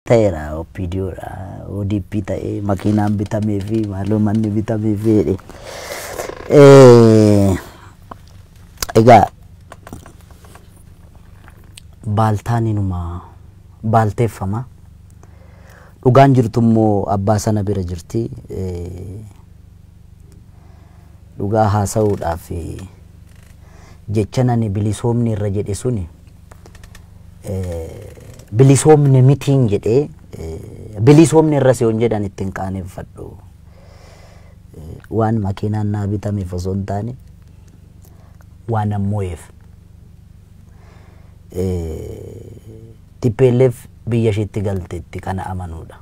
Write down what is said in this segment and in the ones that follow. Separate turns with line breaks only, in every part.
ta'eera OPDO dha ODP ta'e makiinaan bitamee fi maaloo manni bitamee fi jedhe. Eh, Egaa baaltaan inuma baalteeffama. Dhugaan jirtu immoo abbaa sana bira jirti. Eh, Dhugaa haasa'uudhaaf eh, jecha nani bilisoomni irra jedhe suni bilisoomne mitiin jedhee bilisoomne irra siyoon jedhan ittiin qaaneffadhu. Waan makiinaan naa bitameef osoo hin taane waan ammo'eef. Tippeelleef biyya ishiitti galteetti kana amanuudha.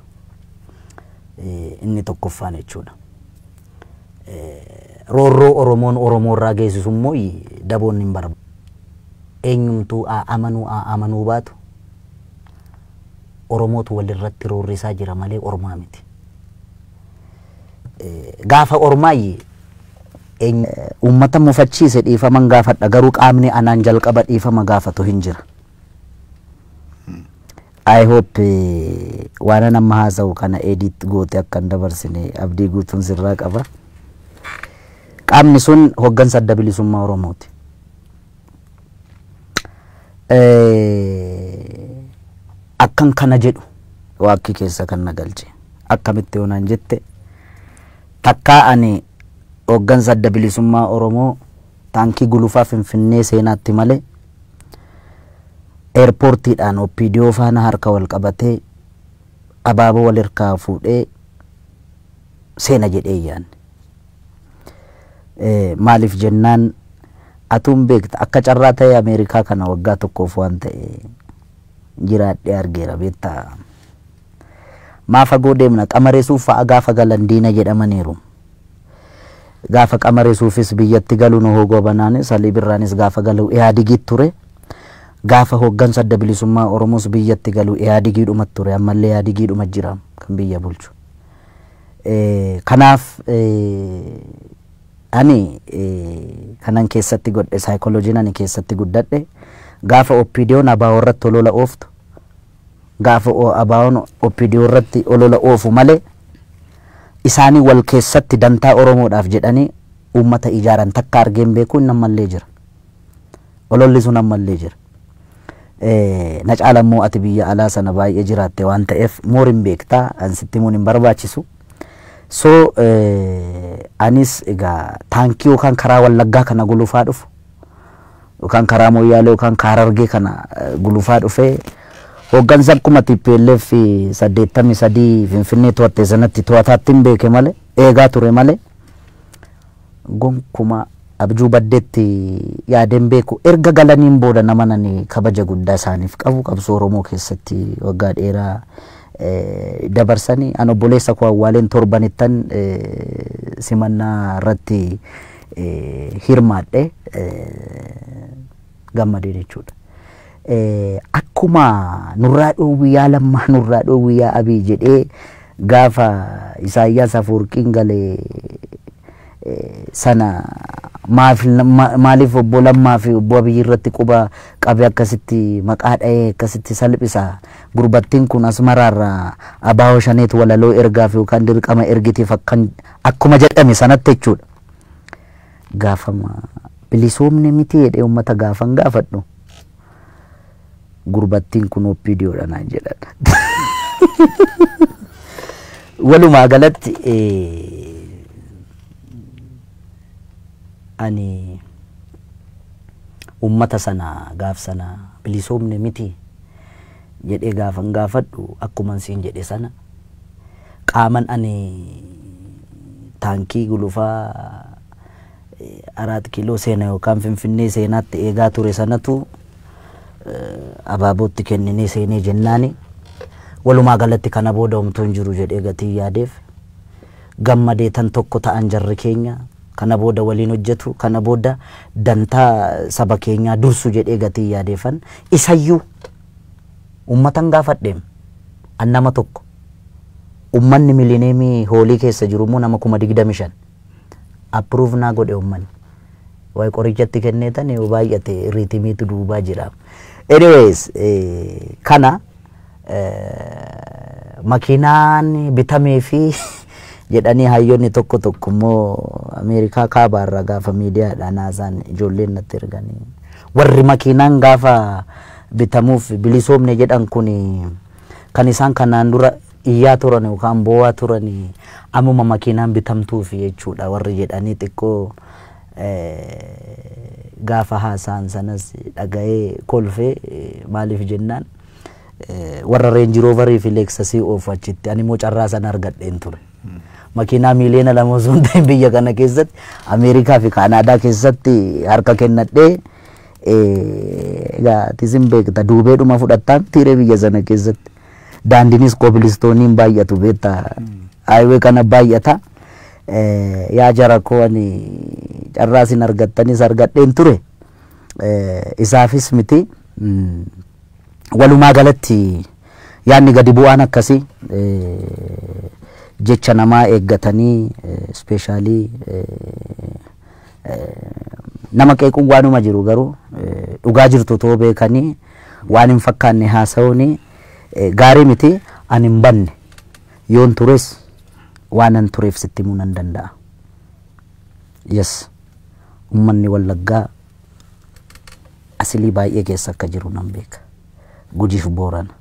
Inni tokkoffaan jechuudha. Roorroo Oromoon Oromoorraa geessisunmoo daboon hin barbaadu. Eenyumtuu haa amanuu haa amanuu baatu Oromootu walirratti roorrisaa jira malee ormaa miti. Gaafa ormaa eenyu. Uummata mufachiise dhiifaman gaafadha garuu qaamni anaan jalqaba dhiifama gaafatu hin jira. I hope waanan amma haasa'u kana edit goote akka hin dabarsine abdii guutuun sirraa qaba. Qaamni sun hoggansa adda bilisummaa Oromooti. Akkan kana jedhu waakkii keessa kan na galche. Akkamitti yoo naan jette takkaa ani hoggansa adda bilisummaa Oromoo taankii gulufaa Finfinnee seenaatti malee Eerpoortiidhaan opdo faana harka wal qabatee abaaboo wal hirkaa fuudhee seena jedhee hin yaanne. Maaliif jennaan atuu hin beekta akka carraa ta'ee Ameerikaa kana waggaa tokkoof waan ta'e jiraadhee argeera beektaa. Maa fagoo deemna? Qamaresuuf fa'a gaafa galan diina jedhamaniiru. Gaafa Qamaresuufis biyyatti galu Nuhoo Goobanaanis, Alii Birraanis gaafa galu Ihaadigit ture. Gaafa hoggansa Adda Bilisummaa Oromoos biyyatti galu Ihaadigiidhuma ture. Ammallee Ihaadigiidhuma jira kan biyya bulchu. Kanaaf ani kanan keessatti godhe saayikolojiin ani keessatti guddadhe gaafa OPDOn ABOrratti olola ooftu Gaafa ABOn opdo irratti olola oofu malee isaanii wal keessatti dantaa Oromoodhaaf jedhanii uummata ijaaran takka argee hin beeku inni ammallee jira. Ololli sun ammallee jira. Na caala immoo ati biyya alaa sana baay'ee jiraatte waan ta'eef moor hin beekta an sitti himuun hin barbaachisu. So anis egaa taankii yookaan karaa wallaggaa kana gulufaa dhufu yookaan karaa Mooyyaalee yookaan ka Harargee kana gulufaa dhufee hooggansa akkuma TPLF 83 Finfinnee to'atte sanatti to'ataatti hin beeke malee eegaa ture malee gonkumaa abjuu baddeetti yaadeen beeku erga galaniin booda nama nani kabaja guddaa isaaniif qabu qabsoo Oromoo keessatti waggaa dheeraa dabarsanii an obboleessa koo awwaaleen torbanittan simannaa irratti hirmaadhe gammadee jechuudha. Akkuma nurraa dhoowwii yaa lammaa nurraa dhoowwii yaa abii jedhee gaafa Isaayyaas Afuurqiin galee sana maaf maaliif obbo Lammaa fi obbo Abiyyi irratti quba qabe akkasitti maqaa dha'ee akkasitti salphisa gurbattiin kun asmaraarraa abaawoo shaneet walaloo ergaaf yookaan dirqama ergitiif akkan Akkuma jedhame sanatti jechuudha. Gaafama bilisoomne miti jedhee uummata gaafan gaafadhu gurbattiin kun OPDOdha naan jedhan. Walumaa galatti ani uummata sana gaaf sana bilisoomne miti jedhee gaafan gaafadhu akkuman siin jedhe sana Qaaman ani taankii gulufaa Araat Kiiloo seena yookaan Finfinnee seenaatti eegaa ture sanatu Abaabootti kenninee seenee jennaani walumaa galatti kana booda homtuu hin jiru jedhee gatiin yaadeef gammadee tan tokko ta'an jarri keenya kana booda waliin hojjetu kana booda dantaa saba keenyaa dursu jedhee gatiin yaadeefan isayyuu uummatan gaafadheem an nama tokko Ummanni Milleniyemii Hoolii keessa jiru immoo nama 25,000. Approve naa godhe ummanni. Waay qoricha itti kenneetan yoo baay'ate ritimiitu duubaa jira. Anyways kana makiinaan bitamee fi jedhanii hayyoonni tokko tokko immoo Ameerikaa kaabaa irraa gaafa miidiyaadhaan haasaan ijoolleen natti erganii warri makiinaan gaafa bitamuuf bilisoomne jedhan kun Kan isaan kanaan dura iyyaa turan yookaan boo'aa turan ammuma makiinaan bitamtuuf jechuudha warri jedhanii xiqqoo gaafa haasa'an sanas dhaga'ee kolfee maaliif jennaan warra reenji roovarii fi leeksasii oofu achitti ani immoo carraa sana argadheen ture. Makiinaa miiliyoona lama osoo hin ta'in biyya kana keessatti Ameerikaa fi Kaanaadaa keessatti harka kennadhee tisin beekta duubeedhuma fudhattaan tiiree biyya sana keessatti daandinis kobilistooniin baay'atu beekta haayiwee kana baay'ata yaa jara koo ani carraa isin argattanis argadheen ture isaafis miti walumaa galatti yaadni gadi bu'aan akkasii jecha namaa eeggatanii ispeeshaalii Nama qeequun waanuma jiru garuu dhugaa jirtu otoo beekanii waan hin fakkaanne haasa'uun gaarii miti. Ani hin banne yoon tures waanan tureef sitti himuu nan danda'a. Yes ummanni Wallaggaa asilii baay'ee keessa akka jiru nan beeka. Gujiif Boorana.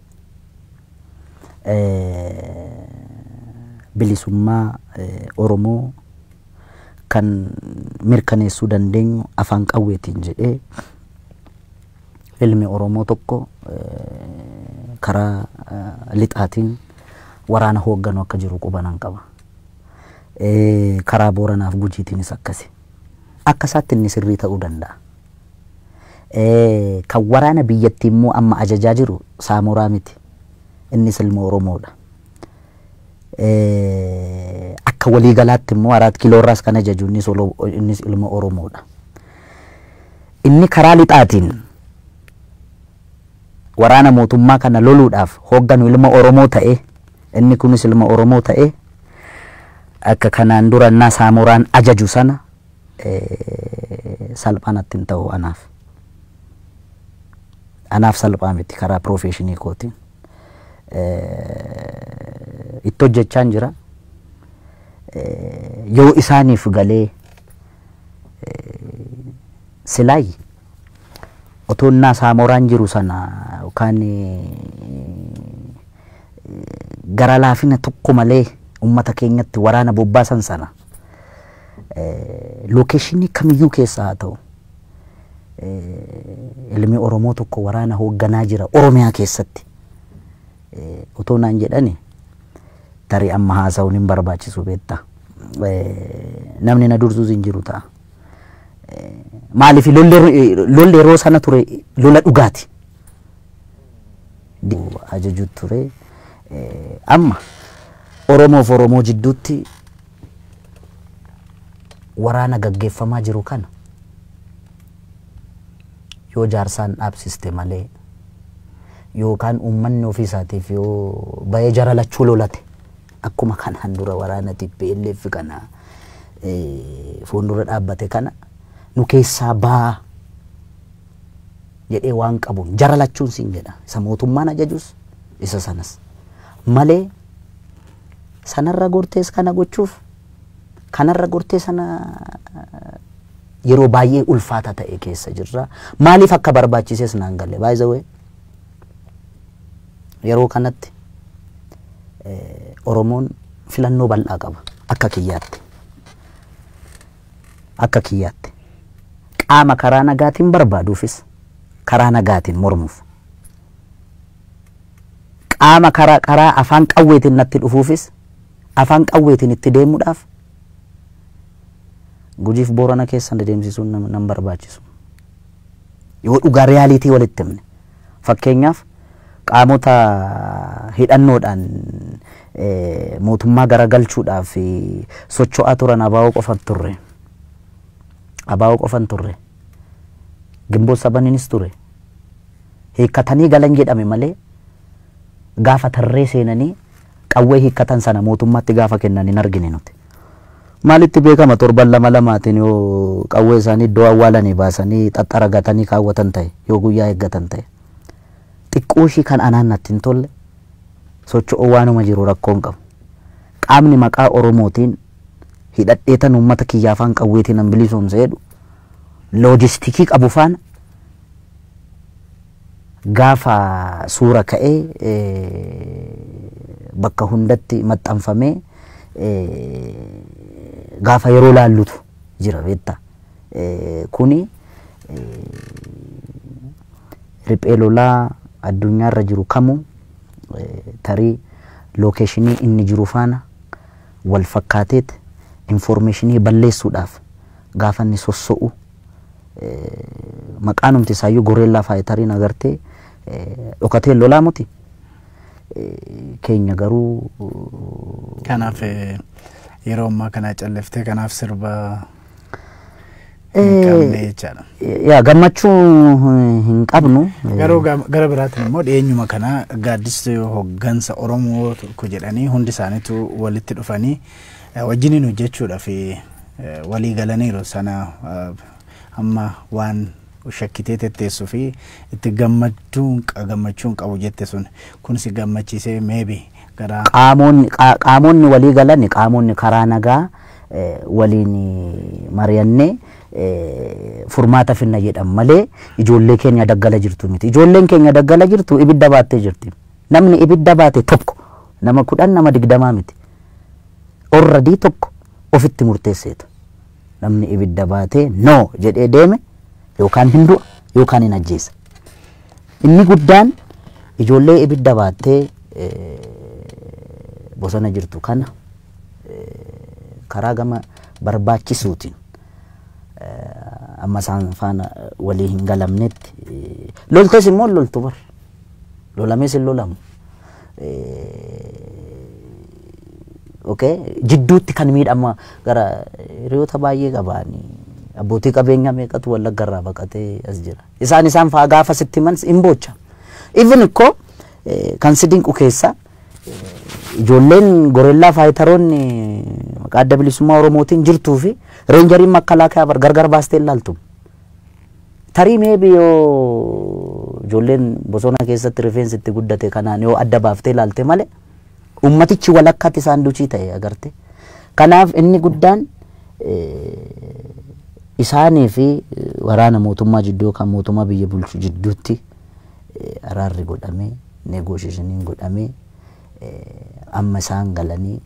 Bilisummaa Oromoo kan mirkaneessuu dandeenyu afaan qawweetiin jedhee ilmi Oromoo tokko karaa lixaatiin waraana hoogganu akka jiru qubanan qaba. Karaa Booranaaf Gujiitiinis akkasi. Akka isaatti inni sirrii ta'uu danda'a. Kan waraana biyyattii immoo amma ajajaa jiru Saamoraa miti. Innis ilma Oromoodha. Eh, Akka walii galaatti immoo Araat Kiiloo irraas kan ajaju innis olo- innis ilma Oromoodha. Inni karaa lixaatiin waraana mootummaa kana loluudhaaf hoogganu ilma Oromoo ta'e inni kunis ilma Oromoo ta'e akka kanaan dura innaa Saamoraan ajaju sana eh, salphaa natti hin ta'u anaaf. Anaaf salphaa miti karaa piroofeeshinii kootiin. itti hojjechaan jira. Yoo isaaniif galee silaay otoo innaa saamoraan jiru sana yookaan gara laafina tokko malee uummata keenyatti waraana bobbaasan sana lookeeshinii kamiyyuu keessa haa ta'u ilmi Oromoo tokko waraana hoogganaa jira Oromiyaa keessatti otoo naan jedhani tarii amma haasa'uun hin barbaachisu beekta. Namni na dursus hin jiru ta'a. Maaliif lolli yeroo sana ture lola dhugaati. Ajaju ture. Amma Oromoof Oromoo jidduutti waraana gaggeeffamaa jiru kana yoo jaarsaan dhaabsiste malee yookaan uummanni ofii isaatiif yoo bayee jara lachuu lolate akkuma kanaan dura waraana TPLF kana eh, fuuldura dhaabbate kana nu keessaa baa jedhee waan qabuun jara lachuun siin jedha isa mootummaan ajajus isa sanas malee sanarra gortees kana gochuuf kanarra gortee sana yeroo baay'ee ulfaata ta'e keessa jirra. Maaliif akka barbaachises naan galle. By the way, yeroo kanatti eh, Oromoon filannoo bal'aa qaba. Akka kiyyaatti. Akka kiyyaatti. Qaama karaa nagaatiin barbaaduufis karaa nagaatiin mormuuf. qaama kara karaa afaan qawweetiin natti dhufuufis afaan qawweetiin itti deemuudhaaf Gujiif Boorana keessa dedeemsisuun nam- nan barbaachisu. Yoo dhugaa riyaaliitii walitti himne fakkeenyaaf qaamota hidhannoodhaan eh, mootummaa garagalchuudhaaf eh, socho'aa turan abaa'oo qofan turre. Abaa'oo qofan turre. Ginbot sabaninis ture. Hiikkatanii galan jedhame malee gaafa tarree seenanii qawwee hiikkatan sana mootummaatti gaafa kennan hin argine nuti. Maalitti beekama torban lama lamaatiin yoo qawwee isaanii iddoo awwaalanii baasanii xaxxaragatanii kaawwatan ta'e, yoo guyyaa eeggatan ta'e. Xiqqooshii kan anaan natti hin tolle socho'uu waanuma jiru rakkoo hin qabu. Qaamni maqaa Oromootiin hidhadheetan uummata kiyya afaan qawweetiin nan bilisoomsa jedhu loojistikii qabu faana gaafa suura ka'ee bakka hundatti maxxanfamee gaafa yeroo laallutu jira beekta. Kuni riphee lolaa addunyaarra jiru kamuu tarii lookeshinii inni jiru faana wal fakkaateet infoormeeshinii balleessuudhaaf gaafa inni sosso'u maqaanumti isaayyuu goreellaa faayitariin agartee dhokatee hin lolaa muti keenya garuu
Kanaaf eh, yeroo ammaa kana calliftee kanaaf sirba Hin qabne
jechaadha. Yaa gammachuu hin- hin qabnu. Garuu ga- gara
biraatiin immoo dhiyeenyuma kana gaaddisa hoggansa Oromoo tokko jedhanii hundi isaaniitu walitti dhufanii eh, wajjiniin hojjechuudhaaf eh, walii galaniiru sana eh, amma waan shakkitee tetteessuu fi itti gammachuun qa- gammachuun qabu jette sun kunis gammachiisee meebi Qaamoonni
walii galan qaamoonni karaa nagaa waliin mari'annee furmaata finna jedhan malee ijoollee keenya daggala jirtu miti. Ijoolleen keenya daggala jirtu ibidda baattee jirti. Namni ibidda baate tokko nama kudhan nama digdamaa miti. Orradii tokko ofitti murteesseetu. Namni ibidda baatee no jedhee deeme yookaan hin du'a yookaan hin ajjeesa. Inni guddaan ijoollee ibidda baattee bosona jirtu kana karaa gama barbaachisuutiin amma isaan faana walii hin galamnetti loltes immoo loltu bar lolamees hin lolamu. Okay. Jidduutti kan miidhama gara hiriyoota baay'ee qabaanii abbootii qabeenyaa meeqatu wallaggarraa baqatee as jira. Isaan isaan fa'aa gaafa sitti himan hin boocha. Even ikko eh, kan si dinqu keessa eh, ijoolleen gorellaa faayitaroonni maqaa adda bilisummaa Oromootiin jirtuu fi reenjariin makalaakaa bar gargar baastee hin laaltu. Tarii meebi yoo ijoolleen bosona keessatti rifeensi itti guddate kanaan yoo adda baaftee ilaalte malee Uummatichi walakkaatti saanduchii ta'e agarte. Kanaaf inni guddaan isaanii fi waraana mootummaa jidduu yookaan mootummaa biyya bulchu jidduutti araarri godhamee negoosheeshiniin godhamee amma isaan galanii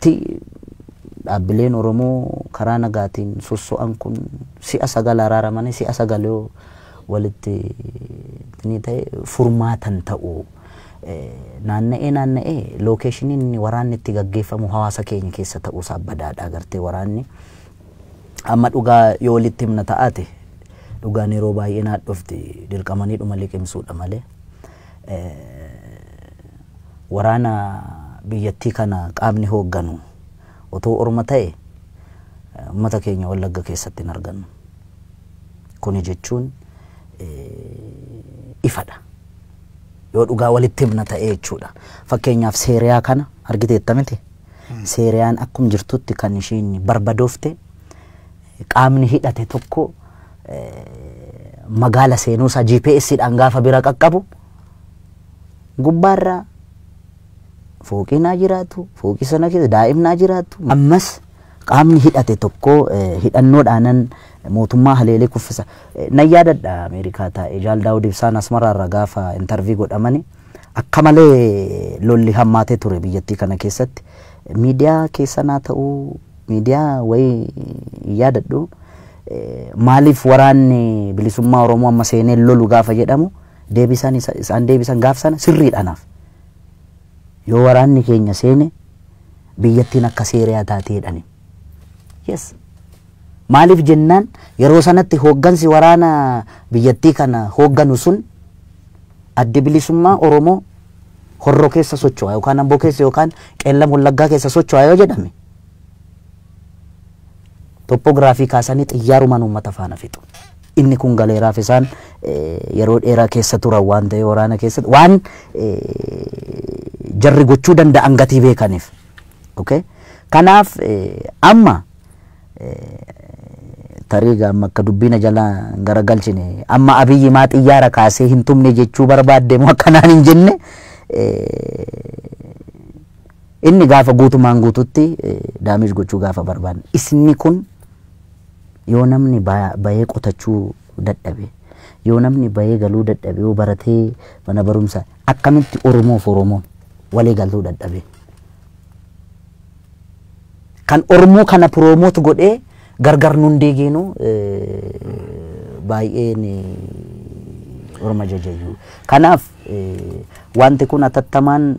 tti dhaabbileen Oromoo karaa nagaatiin sosso'an kun si'a sagal araaramanii si'a sagal yoo walitti ni ta'e furmaata hin ta'u. Naanna'ee naanna'ee lookeeshiniin inni waraanni itti gaggeeffamu hawaasa keenya keessa ta'uusaa badaadha agartee waraanni. Amma dhugaa yoo walitti himna ta'aate dhugaan yeroo baay'ee naadhofti dirqamaniidhuma liqimsuudha malee. Waraana biyyattii kana qaamni hoogganu utuu orma ta'e ummata keenya Wallagga keessatti hin argannu. Kuni jechuun ifadha. Yoo dhugaa walitti himna ta'ee jechuudha. Fakkeenyaaf Seeriyaa kana argiteetta miti? Seeriyaan akkum jirtutti kan ishiin barbadoofte qaamni hidhate tokko magaala seenuusaa GPS dhaan gaafa bira qaqqabu gubbaarra fooqiin haa jiraatu, fooqii sana keessa daa'imni haa jiraatu. Ammas qaamni hidhate tokko hidhannoodhaanan mootummaa haleelee kuffisa. Nan yaadadha Ameerikaa taa'ee Jaal Daawud Ibsaan Asmaraarra gaafa intervii godhamani akka malee lolli hammaatee ture biyyattii kana keessatti. Miidiyaa keessan haa ta'u miidiyaa wayii hin yaadadhu maaliif waraanni bilisummaa Oromoo amma seenee lolu gaafa jedhamu deebisaan isa- isaan deebisan gaaf sana sirriidha anaaf. Yoo waraanni keenya seene biyyattiin akka Seeriyaa taati jedhani. Yes. Maaliif jennaan yeroo sanatti hooggansi waraana biyyattii kana hoogganu sun addi bilisummaa Oromoo horroo keessa socho'a yookaan amboo keessa yookaan qeellam wallaggaa keessa socho'a yoo jedhame Toppoogiraafii kaasanii xiyyaarumaan uummata faana fixu. Inni kun galeeraaf isaan yeroo dheeraa keessa turan waan ta'e waraana keessatti waan jarri gochuu danda'an gatii beekaniif. Kanaaf amma tarii amma akka dubbiina jala hin garagalchine amma abiyyi maa xiyyaara kaasee hin tumne jechuu barbaadde moo akkanaan hin jenne Inni gaafa guutumaan guututti damage gochuu gaafa barbaadne isni kun yoo namni bahee qotachuu dadhabe yoo namni bahee galuu dadhabe yoo baratee mana barumsa akkamitti oromoof oromoon walii galtuu dadhabee kan ormoo kana piroomoot godhee gargar nun deegeenu baay'een orma jajayyuu kanaaf Wanti kun atattamaan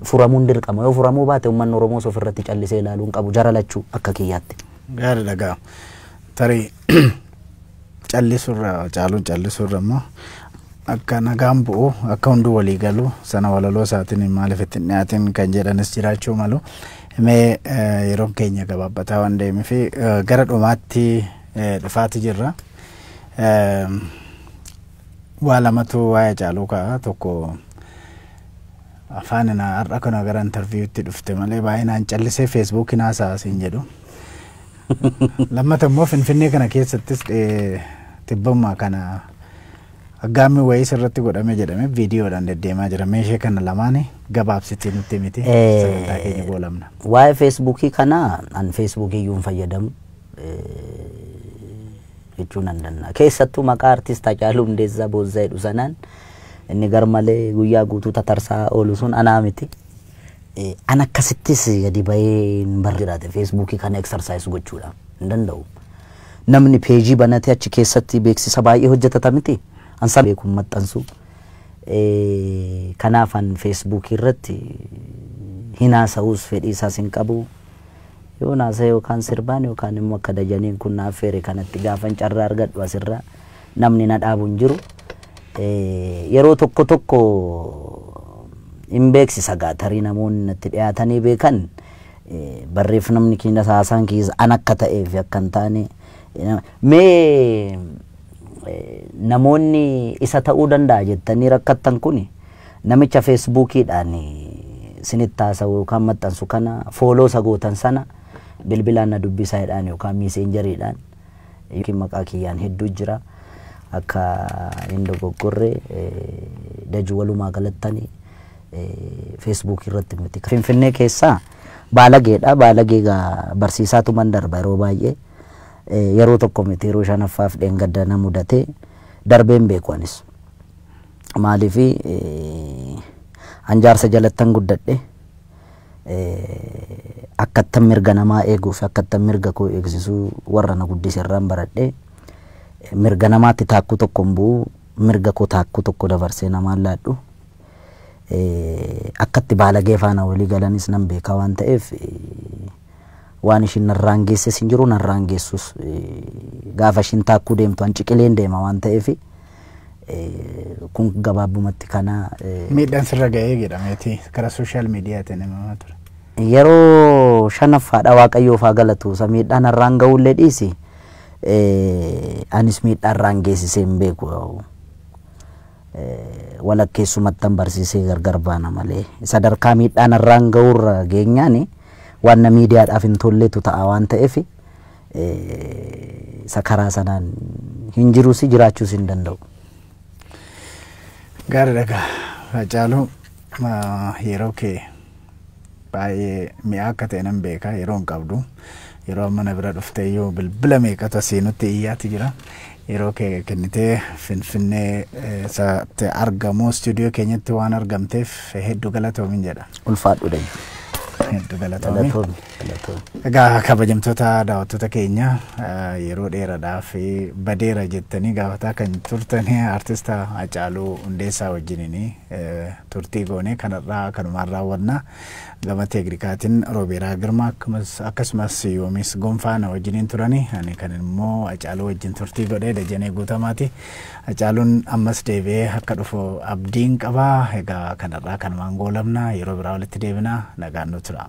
furamuun dirqama. Yoo furamuu baate ummanni Oromoos ofirratti callisee ilaaluu hin qabu jara lachuu akka kiyyaatti. Gaariidha gaa
tarii callisurra caaluun callisurra immoo akka nagaan bu'u akka hunduu walii galu sana walaloo isaatiin maaliif itti hin dhiyaatin kan jedhanis jiraachuu malu. Mee yeroon keenya gabaabbataa waan deemee fi gara dhumaatti dhufaati jirra. Waa lamatu waa'ee Hacaaluu ka'a. Tokko afaan na har'a kana gara interviewutti dhufte malee baay'inaan callisee feesbuukiin haasa'a siin jedhu. Lammata immoo Finfinnee kana keessattis dhee- tibbammaa kana aggaammi wayiis irratti godhame jedhame viidiyoodhaan deddeemaa jira. Meeshee kana lamaani gabaabsitii nutti himiti Eh, sagantaa keenya goolamna. Waa'ee feesbuukii
kana an feesbuukii iyyuu hin fayyadamu. Eh, jechuu nan danda'a. Keessattuu maqaa artist Hacaaluu Hundeessaa Boonsaa jedhu sanaan inni garmalee guyyaa guutuu tatarsaa oolu sun anaa miti. Eh, An akkasittis gadi bahee hin barre jiraate feesbuukii kana eksarsaayis gochuudha hin danda'u. Namni peejii banatee achi keessatti beeksisa baay'ee hojjetata miti. An san beekun maxxansu. Eh, Kanaaf an feesbuukii irratti hin haasa'us fedhii isaas hin qabu. Yoon haasa'e yookaan sirbaan yookaan immoo akka Dajaniin kun na affeere kanatti gaafan carraa argadhu asirra namni na dhaabu hin jiru. Yeroo tokko tokko hin beeksisa gaa tarii namoonni natti dhiyaatanii beekan barreeffamni keenyas haasaan keessa an akka ta'ee fi akka hin taane mee namoonni isa ta'uu danda'a jettanii rakkattan kuni Namicha Facebook dhaan isinitti haasa'u yookaan maxxansu kana follow isa gootan sana bilbilaan na dubbisaa jedhaan yookaan messenger dhaan yookiin maqaa kiyyaan hedduu jira akka hin dogoggorre daju walumaa galattani Facebook irratti miti. Finfinnee keessaa baalageedha. Baalagee egaa barsiisaatu man darba yeroo baay'ee. Yeroo tokko miti yeroo shanaffaaf dheengadda na mudatee darbeen beeku anis. Maaliif an jaarsa jalattan guddadhe akkattan mirga namaa eeguu fi akkattan mirga koo eegsisuu warra na guddise irraan baradhe mirga namaatti taakkuu tokko hin bu'u mirga koo taakkuu tokko dabarsee namaan laadhu akkatti baalagee faana walii galanis nan beekaa waan ta'eef waan ishiin narraan geesses hin jiru narraan geessus gaafa ishiin taakkuu deemtu an ciqileen deema waan ta'eef kun gabaabumatti kana Miidhaan sirra
ga'ee jedhameeti karaa sooshaal miidiyaatiin himamaa ture. yeroo
shanaffaadha waaqayyoof haa galatu isa miidhaan har'aan ga'ullee dhiisi anis miidhaa har'aan geessisee hin beeku walakkeessumattan barsiisee gargar baana malee sadarkaa miidhaan har'aan ga'urra geenyaani waan na miidiyaadhaaf hin tolletu ta'a waan ta'eef isa karaa sanaan hin jirusi jiraachuus hin danda'u.
Gaariidha egaa Haacaaluu yeroo kee baay'ee mi'aa akka ta'e nan beeka yeroo hin qabdu yeroo amma na bira dhuftee iyyuu bilbila meeqatu asii nutti iyyaati jira yeroo kee kennitee finfinnee isaatti argamu istuudiyoo keenyatti waan argamteef hedduu galatoomin jedha. Ulfaadhu dha.
Hedduu
galatoomi. Galatoomi. Galatoom. Egaa kabajamtoota daawwattoota keenya eh, yeroo dheeraadhaaf eh, badeera jettanii gaafataa kan turtan artista Hacaaluu Hundeessaa wajjiniin eh, turtii goonee kanarraa kanumaan raawwanna. Gama teeknikaatiin Roobeeraa Girmaa akkasumas- akkasumas Yoomis Gonfaa na wajjiniin turani. Ani kan immoo Hacaaluu wajjin turtii godhee Dajanee Guutamaati. Hacaaluun ammas deebi'ee akka dhufu abdiin qaba. Egaa kanarraa kanumaan goolabna yeroo biraa walitti deebina nagaan nu tura.